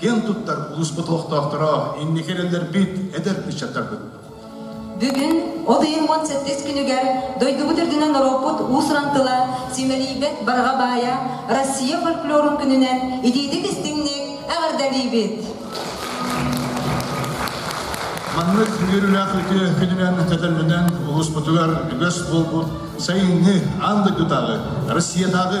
киэн туттар улууспут олохтоохторо, инники эрэллэрбит, эдэр ыччаттарбыт! Бүгүн, ол иһин уон сэттис күнүгэр, дойдубут үрдүнэн норуоппут уус-уран тыла симэлийбэт барҕа баайа Россия фольклорун күнүнэн итиитик-истиҥник эҕэрдэлиибит! Маннык үөрүүлээх үтүө күнүнэн кэтэллэнэн улууспутугар үгэс буолбут сайыҥҥы аан дойдутааҕы, Россиядааҕы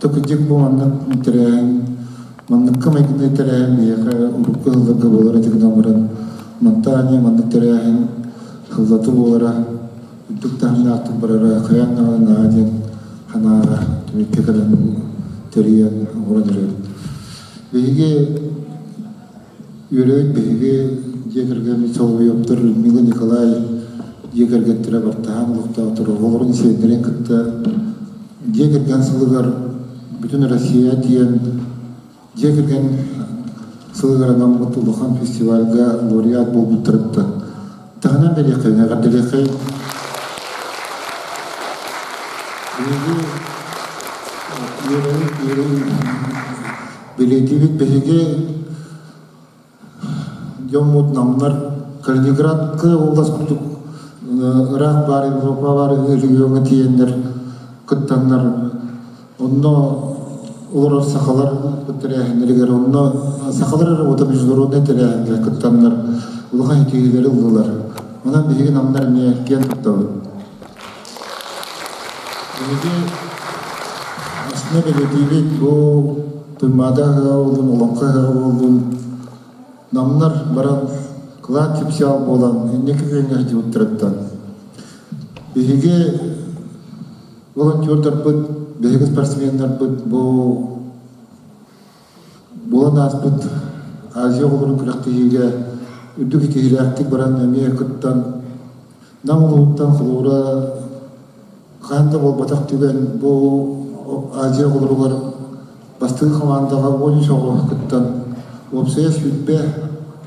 Такыдьык бу маннык интэрээн, манныкка майгынны интэрээн, миэхэ урукку хылларга буолар этигин амыран, мантаане маннык тэрээһин хыллаты буолара, үрдүк таһын аартык барара, хайан наҕа наһаа диэн ханааҕа түмүккэ кэлэн тэрийэн оҥорон эрэр. Биһиги Үөрөбүт биһиги дьиэ кэргэммит солобуйаптар Людмила Николай дьиэ кэргэттэрэ бартаһан олохтоотор оҕолорун сиэннэрин кытта дьиэ кэргэн сылыгар Бүтүн Россия диэн дьиэ кэргэн сылыгар анаммыт улахан фестивальга лауреат буолбуттарыттан таһынан бэлиэхэй эҕэрдэлиэхэй биһиги үөрөбүт үөрөбүт Билиитибит биһиги дьоммут намнар Калининградка улас курдук ыраах баар Европа баар региоҥҥа тиийэннэр кыттаннар онно олорор сахалар тэрээһиннэригэр онно сахалар эрэ международнай тэрээһиҥҥэ кыттаннар улахан ситиһиилэри ыллылар. Онон биһиги намнар эмиэ киэн туттабыт Биһиги астына бэлэтиибит бу Туймаада ыһыга буоллун, Олоҥхо ыһыга буоллун, намнар баран кылаан кипсэҕэ буолан инники күҥҥэ сылдьыбыттарыттан. Биһиги волонтердарбыт, биһиги спортсменнарбыт бу Буолан ааспыт Азия оҕолорун күрэхтэһиигэ үрдүк ситиһиилээхтик баран эмиэ кыттан Нам улууһуттан холуура хаһан да буолбатах түгэн бу Азия оҕолоругар бастыҥ хамаандаҕа он үс оҕо кыттан уопсайа сүүрбэ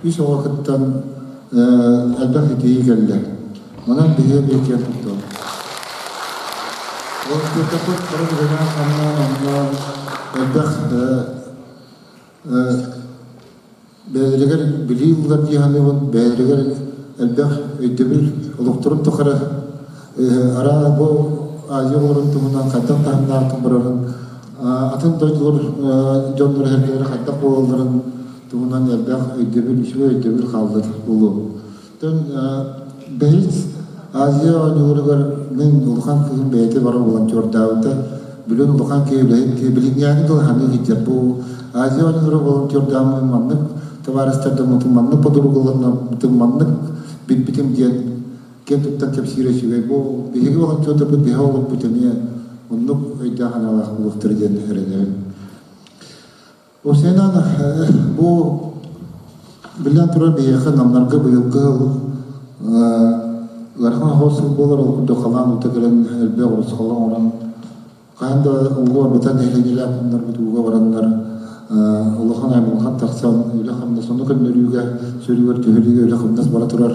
үс оҕо кыттан элбэх ситиһии кэллэ. Онон биһиэ бииргэ курдук. Ол көтөппүт туран үлэлээн хамнаан оннуон элбэх бэйэлигэр билии ылар дьиһаныбын бэйэлигэр элбэх өйдөбүл олохторун тухары араа бу аайыларын туһунан хайдах таһымнаахтык барарын атын дойдулар дьоннор эргэлэрэ хайдах буолалларын туһунан элбэх өйдөбүл үчүгэй өйдөбүл хааллар болуо Бэһис Азия оонньуулугар мин улахан кыыһым бэйэтэ бара волонтердаабыта. Бүгүн улахан киһи үлэһит билиҥҥээни дылыһаны иһитэр бу Азия оонньуулара волонтердааммын маннык товарыстардаммытым маннык подругаларнаммытым маннык билбитим диэн киэн туттан кэпсиирэ үчүгэй бу биһиги волонтердарбыт биһэ олорбут эмиэ оннук өйдөөх аналаах буолуохтара диэн эрэнэбин Бу сeenan бу биллэн турар биһиэхэ намнарга быйылгы ыарахан хоос буолар ол курдук халаан ута кэлэн элбэх урусхалан орон хаһан да улуу арбытан нэһилиэнньэлээх хоннорбут ууга бараннар улахан аймылхан тахсан үлэ хамнас ону көннөрүүгэ сөрүгэр төһөрүүгэ үлэ хамнас бара турар